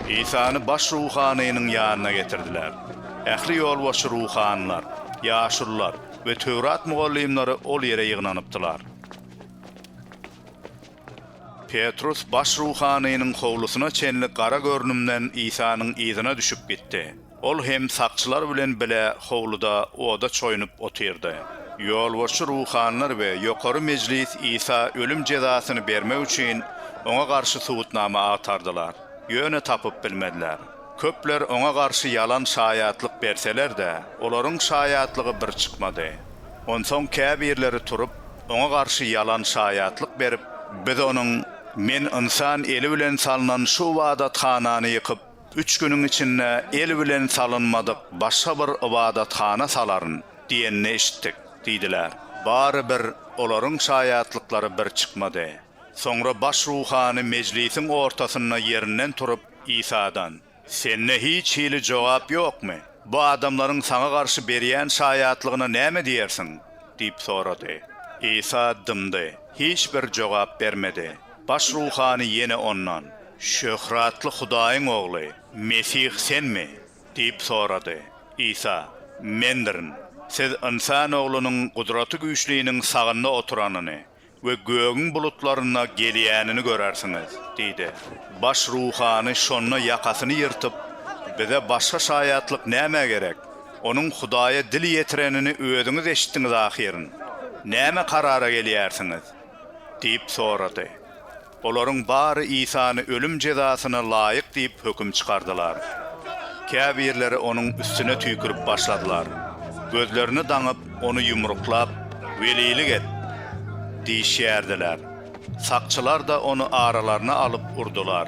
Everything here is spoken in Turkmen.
Isany baş ruhanynyň ýanyna getirdiler. Ähli ýolbaşçy ruhanylar, ýaşulular we Töwrat mugallymlary ol ýere ýygnanypdylar. Petrus baş ruhanynyň howlusyna çenli gara görnümden Isanyň yzyna düşüp gitdi. Ol hem sakçylar bilen bile howluda oda çoýunyp otyrdy. Ýolbaşçy ruhanylar we Ýokary Mejlis Isa ölüm jezasyny bermek üçin oňa garşy subutnama agtardylar, ýöne tapyp bilmediler. Köpler oňa garşy ýalan şaýatlyk berseler-de, olaryň şaýatlygy bir çykmady. Onsoň käbirleri turup, oňa garşy ýalan şaýatlyk berip, Biz onuň, Men ynsan eli bilen salnan şu ybadathanany ýykyp, Üç günüň içinde el bilen salynmadyk başga bir ybadathana salaryn diýenini eşitdik, diýdiler. Bary bir olaryň şaýatlyklary bir çykmady. Soňra baş ruhany mejlisiň ortasynda ýerinden turup, Isadan, Sende hiç hili jogap ýokmy? Bu adamlaryň saňa garşy berýän şaýatlygyna näme diýersiň? diýip sorady. Isa dymdy, hiç bir jogap bermedi. Baş ruhany ýene ondan, Şöhratly Hudaýyň Ogly, Mesih Senmi? diýip sorady. Isa, Mendirin. Siz Ynsan Oglunyň Gudraty Güýçliniň sagynda oturanyny we gögüň bulutlarynda gelýänini görersiňiz diýdi. Baş ruhany şonda ýakasyny ýyrtyp, Bize başga şaýatlyk nämä gerek? Onuň Hudaýa dil ýetirenini özüňiz eşitdiňiz ahyryn. Näme karara gelýärsiňiz? diýip sorady. Olaryň bary Isany ölüm jezasyna laýyk diýip höküm çykardylar. Käbirleri onuň üstüne tüýkürip başladylar. Gözlerini daňyp, ony ýumruklap, Welilik et! diýişýärdiler. Sakçylar-da ony aralaryna alyp urdular.